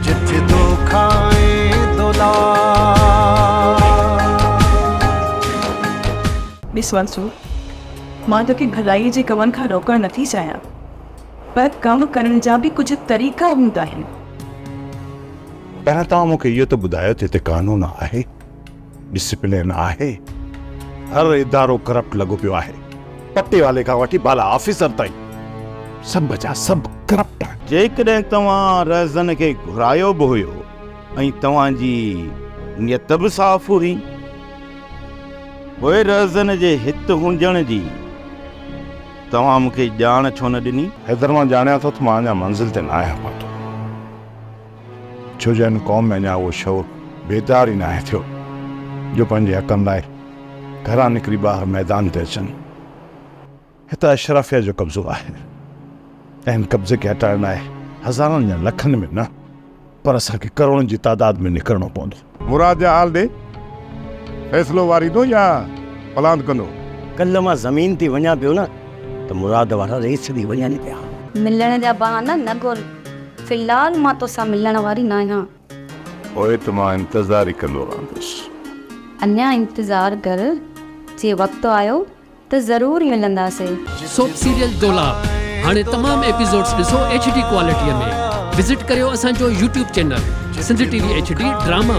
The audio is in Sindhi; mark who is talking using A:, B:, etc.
A: جت دوکا ۽ دولار. ڏس منصور، مان توکي ڀلائيء جي ڪمن کان روڪڻ نٿي چاهيان، پر ڪم ڪرڻ جا به ڪجهه طريقا هوندا آهن.
B: پهريان توهان مون کي اهو ته ٻڌايو ته هتي قانون آهي؟ ڊسپلين آهي؟ هر ادارو ڪرپٽ لڳو پيو آهي. پٽيوالي کان وٺي بالا آفيسر تائين سڀ جا سڀ ڪرپٽ آهن. جيڪڏهن توهان رهزن کي گهرايو به هيو ۽ توهان جي نيت به صاف هئي، پوء رهزن جي هت هجڻ جي توهان مون کي ڄاڻ ڇو نه ڏني؟ حيدر مان ڄاڻيان ٿو ته مان اڃا منزل تي نه آهيان پهتو. ڇو جو هن قوم ۾ اڃا اهو شعور بيدار ئي ناهي ٿيو جو پنهنجي حقن لاء گهران نڪري ٻاهر ميدان تي اچن. هت اشرافيه جو قبضو آهي ۽ هن قبضي کي هٽائڻ لاء هزارن يا لکن ۾ نه پر اسان کي ڪروڙن جي تعداد ۾ نڪرڻو پوندو. مراد جا آل ڏي
C: فيصلو واريندو يا پلاند ڪندو. ڪلهه مان زمين
D: تي وڃان پيو نه ته مراد وارا ريس ڇڏي وڃن پيا. ملڻ جا
E: بهانا نه ڳول في الحال مان توسان ملڻ واري ناهيان. پوء ته
B: مان انتظار ئي ڪندو رهندس. اڃا
E: انتظار ڪر جي وقت آيو. ته ضرور ملنداسين. سوپ سيريل
F: دولاب هاڻي تمام ايپيسوڊز ڏسو ايڇ ڊي ڪوالٽيء ۾ وزٽ ڪريو اسان جو YouTube channel Sindh T V H D drama.